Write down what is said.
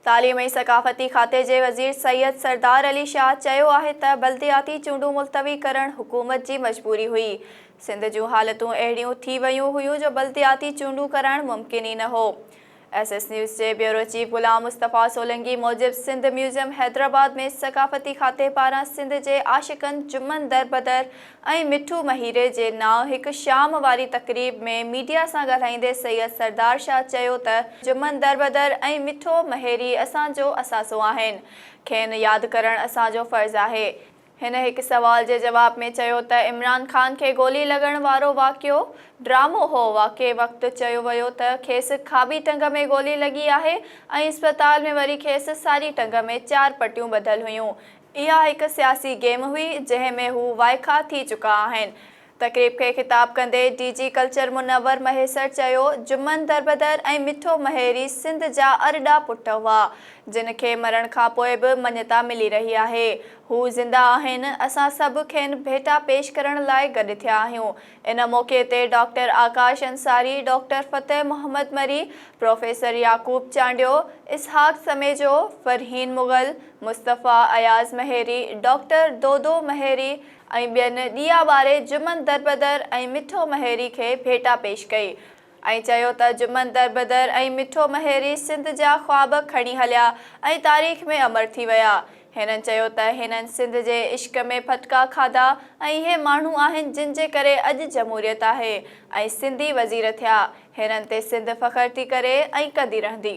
تعليم ۽ ثقافتي کاتي جي وزير سيد سردار علي شاهه چيو آهي ته بلدياتي چونڊون ملتوي ڪرڻ حڪومت جي مجبوري هئي، سنڌ جون حالتون اهڙيون ٿي ويون هيون جو بلدياتي چونڊون ڪرائڻ ممڪن ئي نه هو. ايس ايس نيوز جي بيورو چيف غلام مصطفيٰ سولنگي موجب سنڌ ميوزيم حيدرآباد ۾ ثقافتي کاتي پاران سنڌ جي عاشقن جمن در بدر ۽ مٺو مهيري جي نانء هڪ شام واري تقريب ۾ ميڊيا سان ڳالهائيندي سيد سردار شاهه چيو ته جمن دربدر ۽ مٺو مهيري اسان جو اثاثو آهن کين ياد ڪرڻ اسان جو فرض آهي هن هڪ سوال جي جواب ۾ چيو ته عمران خان کي گولي لڳڻ وارو واقعو ڊرامو هو واقعي وقت چيو ويو ته کيس کاٻي ٽنگ ۾ گولي لڳي آهي ۽ اسپتال ۾ وري کيس ساري ٽنگ ۾ چار پٽيون ٻڌل هيون اها هڪ سياسي گيم هئي، جنهن ۾ هو وائکا ٿي چڪا آهن. تقريب کي خطاب ڪندي D G culture Munawar Mahesar چيو، جمن دربدر ۽ مٺو مهيري سنڌ جا ارڏا پٽ هئا، جن کي مرڻ کان پوء به مڃتا ملي رهي آهي. هو زنده آهن، اسان سڀ کين ڀيٽا پيش ڪرڻ لاء گڏ ٿيا آهيون. ان موقعي تي doctor Akash Ansari, doctor Fateh Muhammad Marri, professor Yaqoob Chandio, Ishaq Samejo, Farheen Mughal, Mustafa Ayaz Maheri, doctor Dodo Maheri ۽ ٻين ڏيئا ٻاري جمن دربدر ۽ مٺو مهيري کي ڀيٽا پيش ڪئي ۽ چيو ته جمن دربدر ۽ مٺو مهيري سنڌ جا خواب کڻي هليا ۽ تاريخ ۾ امر ٿي ويا. هنن چيو ته هنن سنڌ جي عشق ۾ ڦٽڪا کاڌا ۽ اهي ماڻهو آهن جن جي ڪري اڄ جمهوريت آهي ۽ سنڌي وزير ٿيا، هنن تي سنڌ فخر ٿي ڪري ۽ ڪندي رهندي.